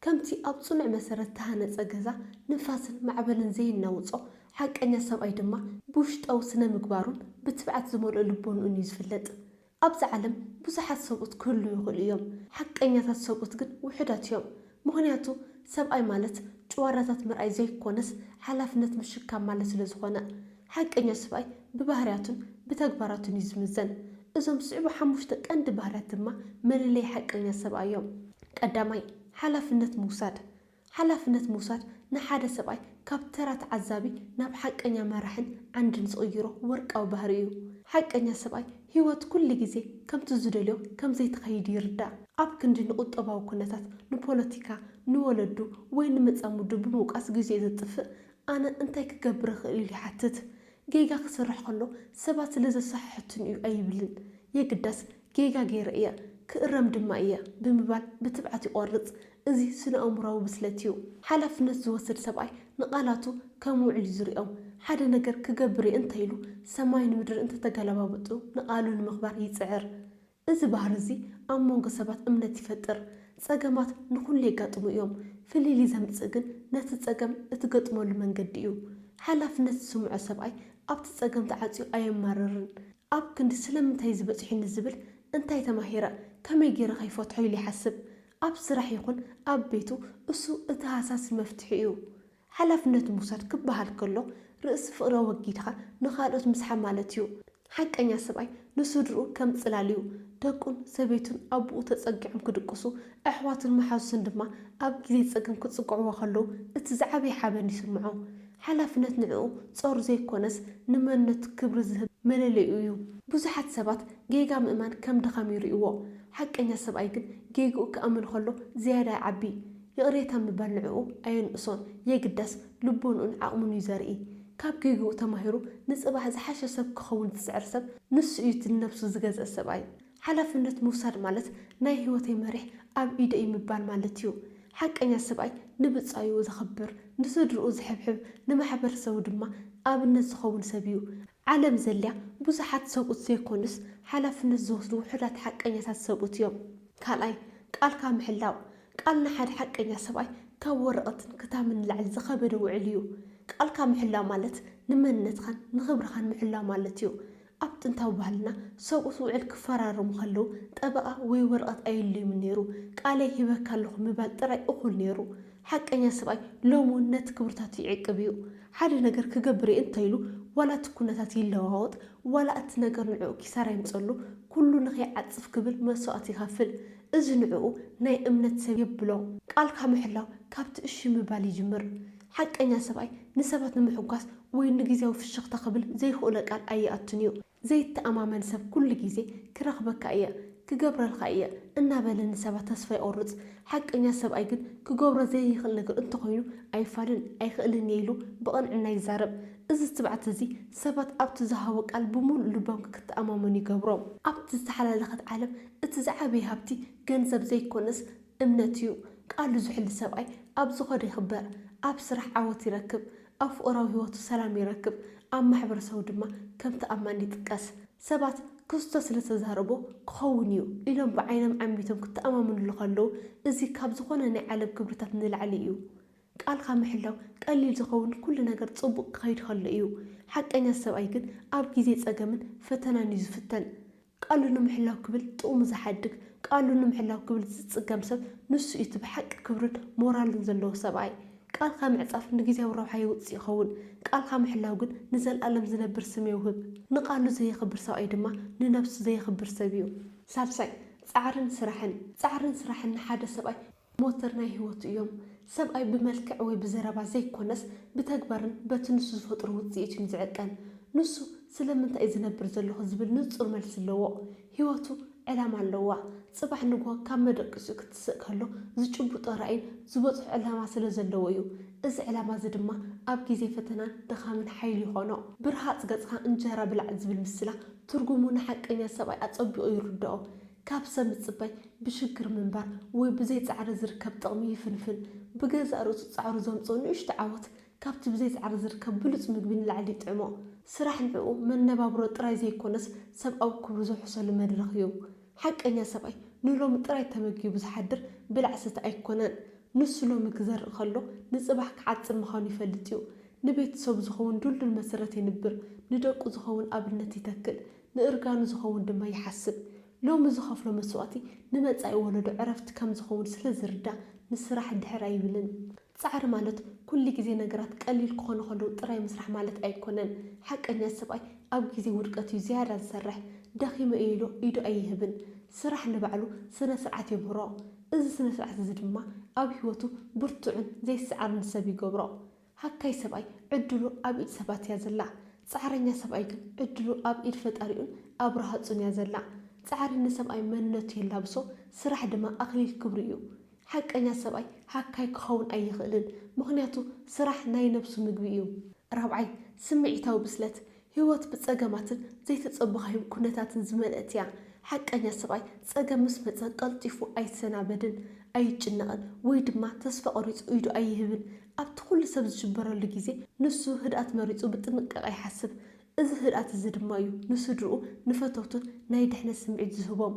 ከምቲ ኣብ ጽኑዕ መሰረት እተሃነጸ ገዛ ንፋስን ማዕበልን ዘየናውጾ፣ ሓቀኛ ሰብኣይ ድማ ብውሽጣዊ ስነ-ምግባሩን ብትብዓት ዝመልኦ ልቦንኡን እዩ ዝፍለጥ። ኣብዛ ዓለም ብዙሓት ሰብኡት ክህልዉ ይኽእሉ እዮም፣ ሓቀኛታት ሰብኡት ግን ውሑዳት እዮም። ምኽንያቱ ሰብኣይ ማለት ጭዋዳታት ምርኣይ ዘይኰነስ ሓላፍነት ምሽካም ማለት ስለ ዝዀነ። ሓቀኛ ስብኣይ ብባህርያቱን ብተግባራቱን እዩ ዝምዘን። እዞም ዝስዕቡ ሓሙሽተ ቀንዲ ባህርያት ድማ መለለዪ ሓቀኛ ሰብኣይ እዮም። ቀዳማይ፣ ሓላፍነት ምውሳድ። ሓላፍነት ምውሳድ ንሓደ ሰብኣይ ካብ ተራ ተዓዛቢ ናብ ሓቀኛ መራሕን ዓንድን ዝቕይሮ ወርቃዊ ባህሪ እዩ። ሓቀኛ ሰብኣይ ህይወት ኩሉ ግዜ ከምቲ ዝደልዮ ከም ዘይትኸይድ ይርዳእ። ኣብ ክንዲ ንቁጠባዊ ኩነታት፣ ንፖለቲካ፣ ንወለዱ ወይ ንመጻምዱ ብምውቃስ ግዜኡ ዘጥፍእ፣ ኣነ እንታይ ክገብር እኽእል ኢሉ ይሓትት። ጌጋ ክሰርሕ ከሎ ሰባት ስለ ዘሰሓሕቱኒ እዩ ኣይብልን። የግዳስ ጌጋ ገይረ እየ፣ ክእረም ድማ እየ ብምባል ብትብዓት ይቖርጽ። እዚ ስነ-ኣእምሮኣዊ ብስለት እዩ። ሓላፍነት ዝወስድ ሰብኣይ ንቓላቱ ከም ውዑል እዩ ዝርእዮም። ሓደ ነገር ክገብር እየ እንተ ኢሉ፣ ሰማይን ምድርን እንተ ተገለባብጡ ንቓሉ ንምኽባር ይጽዕር። እዚ ባህሪ እዚ ኣብ መንጎ ሰባት እምነት ይፈጥር። ጸገማት ንኹሉ የጋጥሙ እዮም። ፍልልይ ዘምጽእ ግን ነቲ ጸገም እትገጥመሉ መንገዲ እዩ። ሓላፍነት ዝስምዖ ሰብኣይ ኣብቲ ጸገም ተዓጽዩ ኣየማርርን። ኣብ ክንዲ ስለምንታይ እዚ በጺሑኒ ዝብል እንታይ ተማሂረ፣ ከመይ ገይረ ከ ይፈትሖ ኢሉ ይሓስብ። ኣብ ስራሕ ይኹን ኣብ ቤቱ እሱ እቲ ሃሳሲ መፍትሒ እዩ። ሓላፍነት ምውሳድ ክበሃል ከሎ ርእሲ ፍቕሪ ኣወጊድኻ ንኻልኦት ምስሓብ ማለት እዩ። ሓቀኛ ሰብኣይ ንስድርኡ ከም ጽላል እዩ። ደቁን ሰበይቱን ኣቡኡ ተጸጊዖም ክድቅሱ፣ ኣሕዋቱን መሓዙቱን ድማ ኣብ ግዜ ጸገም ክጽግዕዎ ከለዉ እቲ ዝዓበየ ሓበን ይስምዖ። ሓላፍነት ንዕኡ ጾር ዘይኮነስ ንመንነቱ ክብሪ ዝህብ መለለይኡ እዩ። ብዙሓት ሰባት ጌጋ ምእማን ከም ድኻም ይርእይዎ። ሓቀኛ ሰብኣይ ግን ጌግኡ ክኣምን ከሎ ዝያዳ ይዓቢ። ይቕሬታ ምባል ንዕኡ ኣየንእሶን፣ የግዳስ ልቦንኡን ዓቕሙን እዩ ዘርኢ። ካብ ጌግኡ ተማሂሩ ንጽባሕ ዝሓሸ ሰብ ክኸውን ዝጽዕር ሰብ ንሱ እዩ እቲ ንነብሱ ዝገዝእ ሰብኣይ። ሓላፍነት ምውሳድ ማለት ናይ ህይወተይ መሪሕ ኣብ ኢደይ እዩ ምባል ማለት እዩ። ሓቀኛ ሰብኣይ ንብጻዩ ዘኽብር፣ ንስድርኡ ዝሕብሕብ፣ ንማሕበረሰቡ ድማ ኣብነት ዝኸውን ሰብ እዩ። ዓለም ዘልያ ብዙሓት ሰብኡት ዘይኮኑስ ሓላፍነት ዝወስዱ ውሑዳት ሓቀኛታት ሰብኡት እዮም። ካልኣይ፣ ቃልካ ምሕላው። ቃል ንሓደ ሓቀኛ ሰብኣይ ካብ ወረቐትን ክታምን ንላዕሊ ዝኸበደ ውዕል እዩ። ቃልካ ምሕላው ማለት ንመንነትኻን ንኽብርኻን ምሕላው ማለት እዩ። ኣብ ጥንታዊ ባህልና ሰብኡት ውዕል ክፈራረሙ ከለዉ ጠበቓ ወይ ወረቐት ኣየድልዮምን ነይሩ። ቃለይ ሂበካ ኣለኹ ምባል ጥራይ እኹል ነይሩ። ሓቀኛ ሰብኣይ ሎሚ እውን ነቲ ክብርታቱ ይዕቅብ እዩ። ሓደ ነገር ክገብር እየ እንተ ኢሉ፣ ዋላ እቲ ኵነታት ይለዋወጥ፣ ዋላ እቲ ነገር ንዕኡ ኪሳራ የምጽኣሉ፣ ኵሉ ንኸይዓጽፍ ክብል መስዋእቲ ይኸፍል። እዚ ንዕኡ ናይ እምነት ሰብ የብሎ። ቃልካ ምሕላው ካብቲ እሺ ምባል ይጅምር። ሓቀኛ ሰብኣይ ንሰባት ንምሕጓስ ወይ ንግዝያዊ ፍሽኽታ ክብል ዘይክኡለ ቃል ኣይኣቱን እዩ። ዘይተኣማመን ሰብ ኩሉ ግዜ ክረኽበካ እየ፣ ክገብረልካ እየ እናበለ ንሰባት ተስፋ የቑርጽ። ሓቀኛ ሰብኣይ ግን ክገብሮ ዘይክእል ነገር እንተኾይኑ ኣይፋልን፣ ኣይክእልን እየ ኢሉ ብቕንዕና ይዛረብ። እዚ ትብዓት እዚ ሰባት ኣብቲ ዝሃቦ ቃል ብምሉእ ልቦም ክተኣማመኑ ይገብሮም። ኣብቲ ዝተሓላለኸት ዓለም እቲ ዝዓበየ ሃብቲ ገንዘብ ዘይኮነስ እምነት እዩ። ቃሉ ዝሕሉ ሰብኣይ ኣብ ዝኸዶ ይኽበር፣ ኣብ ስራሕ ዓወት ይረክብ፣ ኣብ ፍቕራዊ ህይወቱ ሰላም ይረክብ፣ ኣብ ማሕበረሰቡ ድማ ከም ተኣማኒ ይጥቀስ። ሰባት ክርስቶስ ስለ እተዛረቦ ክኸውን እዩ ኢሎም ብዓይኖም ዓሚቶም ክተኣማመኑሉ ከለዉ፣ እዚ ካብ ዝዀነ ናይ ዓለም ክብርታት ንላዕሊ እዩ። ቃልካ ምሕላው ቀሊል ዝኸውን ኵሉ ነገር ጽቡቕ ክኸይድ ከሎ እዩ። ሓቀኛ ሰብኣይ ግን ኣብ ግዜ ጸገምን ፈተናን እዩ ዝፍተን። ቃሉ ንምሕላው ክብል ጥቕሙ ዝሓድግ፣ ቃሉ ንምሕላው ክብል ዝጽገም ሰብ ንሱ እዩ እቲ ብሓቂ ክብርን ሞራልን ዘለዎ ሰብኣይ። ቃልካ ምዕጻፍ ንግዝያዊ ረብሓ የውጽእ ይኸውን፣ ቃልካ ምሕላው ግን ንዘልኣለም ዝነብር ስም የውህብ። ንቃሉ ዘየኽብር ሰብኣይ ድማ ንነብሱ ዘየኽብር ሰብ እዩ። ሳልሳይ፣ ጻዕርን ስራሕን። ጻዕርን ስራሕን ንሓደ ሰብኣይ ሞተር ናይ ህይወቱ እዮም። ሰብኣይ ብመልክዕ ወይ ብዘረባ ዘይኮነስ ብተግባርን በቲ ንሱ ዝፈጥሮ ውጽኢት እዩን ዝዕቀን። ንሱ ስለምንታይ እዩ ዝነብር ዘለኹ ዝብል ንጹር መልሲ ኣለዎ። ህይወቱ ዕላማ ኣለዋ። ጽባሕ ንግሆ ካብ መደቀሲኡ ክትስእ ከሎ ዝጭብጦ ራኢን ዝበጽሖ ዕላማ ስለዘለዎ እዩ። እዚ ዕላማ እዚ ድማ ኣብ ግዜ ፈተናን ድኻምን ሓይሊ ይኾኖ። ብርሃጽ ገጽካ እንጀራ ብላዕ ዝብል ምስላ ትርጉሙ ንሓቀኛ ሰብኣይ ኣጸቢቑ ይርድኦ። ካብ ሰብ ምጽባይ ብሽግር ምንባር ወይ ብዘይ ጻዕሪ ዝርከብ ጥቕሚ ይፍንፍን። ብገዛእ ርእሱ ጻዕሩ ዘምጽኦ ንእሽቶ ዓወት ካብቲ ብዘይ ጻዕሪ ዝርከብ ብሉጽ ምግቢ ንላዕሊ ይጥዕሞ። ስራሕ ንዕኡ መነባብሮ ጥራይ ዘይኮነስ ሰብኣዊ ክብሩ ዘውሕሰሉ መድረኽ እዩ። ሓቀኛ ሰብኣይ ንሎሚ ጥራይ ተመጊቡ ዝሓድር ብላዕ ሰቲ ኣይኮነን። ንሱ ሎሚ ክዘርእ ከሎ ንጽባሕ ክዓጽድ ምዃኑ ይፈልጥ እዩ። ንቤተሰቡ ዝኸውን ድልዱል መሰረት የንብር፣ ንደቁ ዝኸውን ኣብነት ይተክል፣ ንእርጋኑ ዝኸውን ድማ ይሓስብ። ሎሚ ዝኸፍሎ መስዋእቲ ንመጻኢ ወለዶ ዕረፍቲ ከም ዝኸውን ስለ ዝርዳእ ንስራሕ ድሕር ኣይብልን። ጻዕሪ ማለት ኩሉ ግዜ ነገራት ቀሊል ክኾኑ ከለዉ ጥራይ ምስራሕ ማለት ኣይኮነን። ሓቀኛ ሰብኣይ ኣብ ግዜ ውድቀት እዩ ዝያዳ ዝሰርሕ። ደኺመ እየ ኢሉ ኢዱ ኣይህብን። ስራሕ ንባዕሉ ስነ ስርዓት የምህሮ። እዚ ስነ ስርዓት እዚ ድማ ኣብ ህይወቱ ብርቱዕን ዘይሰዓብን ሰብ ይገብሮ። ሃካይ ሰብኣይ ዕድሉ ኣብ ኢድ ሰባት እያ ዘላ ጻዕረኛ ሰብኣይ ግን ዕድሉ ኣብ ኢድ ፈጣሪኡን ኣብ ራሃጹን እያ ዘላ ጻዕሪ ንሰብኣይ መንነቱ የላብሶ ስራሕ ድማ ኣክሊል ክብሩ እዩ ሓቀኛ ሰብኣይ ሃካይ ክከውን ኣይክእልን ምክንያቱ ስራሕ ናይ ነብሱ ምግቢ እዩ ራብዓይ ስምዒታዊ ብስለት ህይወት ብጸገማትን ዘይተጸበኻዮም ኩነታትን ዝመልእት እያ። ሓቀኛ ሰብኣይ ጸገም ምስ መጸ ቀልጢፉ ኣይሰናበድን፣ ኣይጭነቕን ወይ ድማ ተስፋ ቆሪጹ ኢዱ ኣይህብን። ኣብቲ ኩሉ ሰብ ዝሽበረሉ ግዜ ንሱ ህድኣት መሪጹ ብጥንቃቐ ይሓስብ። እዚ ህድኣት እዚ ድማ እዩ ንስድርኡ ንፈተውቱን ናይ ድሕነት ስምዒት ዝህቦም።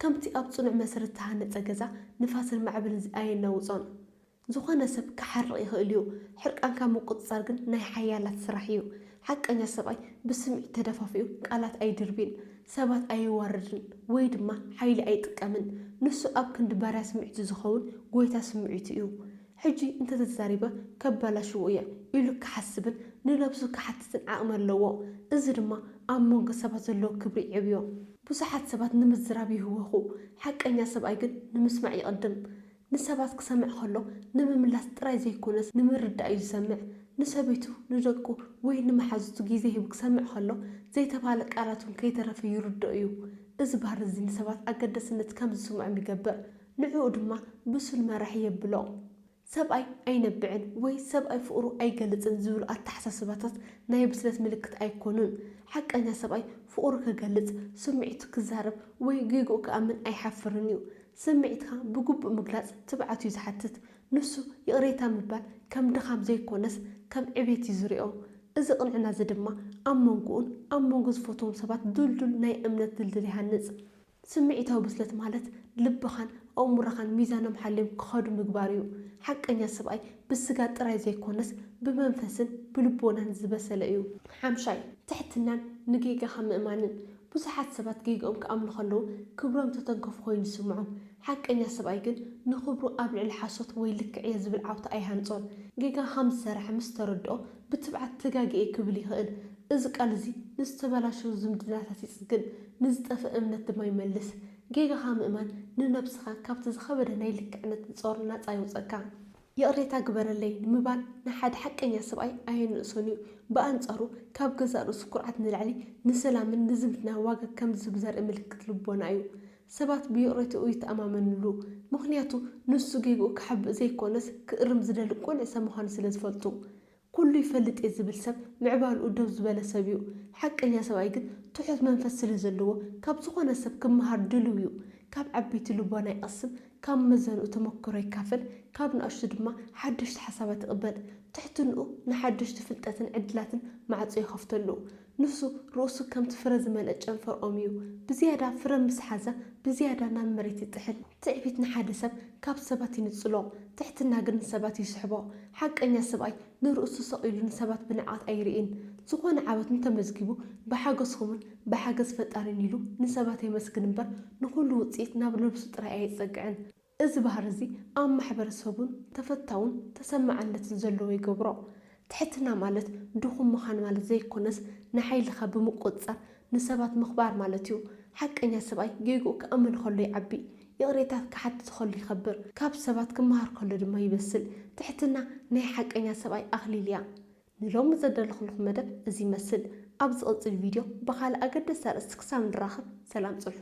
ከምቲ ኣብ ጽኑዕ መሰረት እተሃነጸ ገዛ ንፋስን ማዕበልን ኣየናውጾን። ዝኾነ ሰብ ክሓርቕ ይኽእል እዩ፣ ሕርቃንካ ምቁጽጻር ግን ናይ ሓያላት ስራሕ እዩ። ሓቀኛ ሰብኣይ ብስምዒት ተደፋፊኡ ቃላት ኣይድርቢን፣ ሰባት ኣየዋርድን ወይ ድማ ሓይሊ ኣይጥቀምን። ንሱ ኣብ ክንዲ ባርያ ስምዒቱ ዝኸውን ጎይታ ስምዒቱ እዩ። ሕጂ እንተ ተዛሪበ ከበላሽዎ እየ ኢሉ ክሓስብን ንነብሱ ክሓትትን ዓቕሚ ኣለዎ። እዚ ድማ ኣብ መንጎ ሰባት ዘለዎ ክብሪ የዕብዮ። ብዙሓት ሰባት ንምዝራብ ይህወኹ፣ ሓቀኛ ሰብኣይ ግን ንምስማዕ ይቕድም። ንሰባት ክሰምዕ ከሎ ንምምላስ ጥራይ ዘይኰነስ ንምርዳእ እዩ ዝሰምዕ። ንሰበይቱ፣ ንደቁ፣ ወይ ንመሓዙቱ ግዜ ሂቡ ክሰምዕ ከሎ፣ ዘይተባህለ ቃላት እውን ከይተረፈ ይርድኦ እዩ። እዚ ባህሪ እዚ ንሰባት ኣገዳስነት ከም ዝስምዖም ይገብር፣ ንዕኡ ድማ ብሱል መራሒ የብሎ። ሰብኣይ ኣይነብዕን ወይ ሰብኣይ ፍቕሩ ኣይገልጽን ዝብሉ ኣተሓሳስባታት ናይ ብስለት ምልክት ኣይኰኑን። ሓቀኛ ሰብኣይ ፍቕሩ ክገልጽ፣ ስምዒቱ ክዛረብ ወይ ጌግኡ ክኣምን ኣይሓፍርን እዩ። ስምዒትካ ብግቡእ ምግላጽ ትብዓት እዩ ዝሓትት። ንሱ ይቕሬታ ምባል ከም ድኻም ዘይኰነስ ከም ዕቤት እዩ ዝሪኦ። እዚ ቅንዕና እዚ ድማ ኣብ መንጎኡን ኣብ መንጎ ዝፈትዎም ሰባት ድልዱል ናይ እምነት ድልድል ይሃንጽ። ስምዒታዊ ብስለት ማለት ልብኻን ኣእምሮኻን ሚዛኖም ሓልዮም ክኸዱ ምግባር እዩ። ሓቀኛ ሰብኣይ ብስጋ ጥራይ ዘይኰነስ ብመንፈስን ብልቦናን ዝበሰለ እዩ። ሓምሻይ፣ ትሕትናን ንጌጋኻ ምእማንን። ብዙሓት ሰባት ጌግኦም ክኣምኑ ከለዉ ክብሮም ዝተተንከፉ ኮይኑ ይስምዖም። ሓቀኛ ሰብኣይ ግን ንኽብሩ ኣብ ልዕሊ ሓሶት ወይ ልክዕ እየ ዝብል ዓውታ ኣይሃንጾን። ጌጋ ከም ዝሰርሐ ምስ ተረድኦ ብትብዓት ተጋጊየ ክብል ይኽእል። እዚ ቃል እዚ ንዝተበላሸዉ ዝምድናታት ይጽግን፣ ንዝጠፍእ እምነት ድማ ይመልስ። ጌጋኻ ምእማን ንነብስኻ ካብቲ ዝኸበደ ናይ ልክዕነት ጾር ናጻ የውጽኣካ። ይቕሬታ ግበረለይ ንምባል ንሓደ ሓቀኛ ሰብኣይ ኣየንእሶን እዩ። ብኣንጻሩ ካብ ገዛእ ርእሱ ኩርዓት ንላዕሊ ንሰላምን ንዝምድናን ዋጋ ከም ዝህብ ዘርኢ ምልክት ልቦና እዩ። ሰባት ብይቕሬትኡ ይተኣማመንሉ፣ ምኽንያቱ ንሱ ጌግኡ ክሓብእ ዘይኰነስ ክእርም ዝደሊ ቅኑዕ ሰብ ምዃኑ ስለ ዝፈልጡ። ኩሉ ይፈልጥ እየ ዝብል ሰብ ምዕባልኡ ደው ዝበለ ሰብ እዩ። ሓቀኛ ሰብኣይ ግን ትሑት መንፈስ ስለ ዘለዎ ካብ ዝኾነ ሰብ ክመሃር ድልው እዩ። ካብ ዓበይቲ ልቦና ይቐስም፣ ካብ መመዘንኡ ተመክሮ ይካፈል፣ ካብ ንኣሽቱ ድማ ሓደሽቲ ሓሳባት ይቕበል። ትሕትንኡ ንሓደሽቲ ፍልጠትን ዕድላትን ማዕጾ ይኸፍተሉ። ንሱ ርእሱ ከምቲ ፍረ ዝመልአ ጨንፈር ኦም እዩ፣ ብዝያዳ ፍረ ምስ ሓዘ፣ ብዝያዳ ናብ መሬት ይጥሕል። ትዕቢት ንሓደ ሰብ ካብ ሰባት ይንጽሎ፣ ትሕትና ግን ንሰባት ይስሕቦ። ሓቀኛ ሰብኣይ ንርእሱ ሰቕ ኢሉ ንሰባት ብንዕቀት ኣይርእይን። ዝኾነ ዓወት እንተመዝጊቡ ብሓገዝኩምን ብሓገዝ ፈጣሪን ኢሉ ንሰባት የመስግን እምበር ንኹሉ ውጽኢት ናብ ነብሱ ጥራይ ኣየጸግዕን። እዚ ባህሪ እዚ ኣብ ማሕበረሰቡን ተፈታውን ተሰማዕነትን ዘለዎ ይገብሮ። ትሕትና ማለት ድኹም ምኻን ማለት ዘይኮነስ ንሓይልኻ ብምቁፅፃር ንሰባት ምኽባር ማለት እዩ። ሓቀኛ ሰብኣይ ጌግኡ ክኣምን ከሎ ይዓቢ፣ ይቕሬታ ክሓትት ከሎ ይኸብር፣ ካብ ሰባት ክመሃር ከሎ ድማ ይበስል። ትሕትና ናይ ሓቀኛ ሰብኣይ ኣኽሊል እያ። ንሎሚ ዘዳለኹልኹም መደብ እዚ ይመስል። ኣብ ዝቕፅል ቪድዮ ብኻልእ ኣገደስቲ ኣርእስቲ ክሳብ ንራኸብ ሰላም ፅንሑ።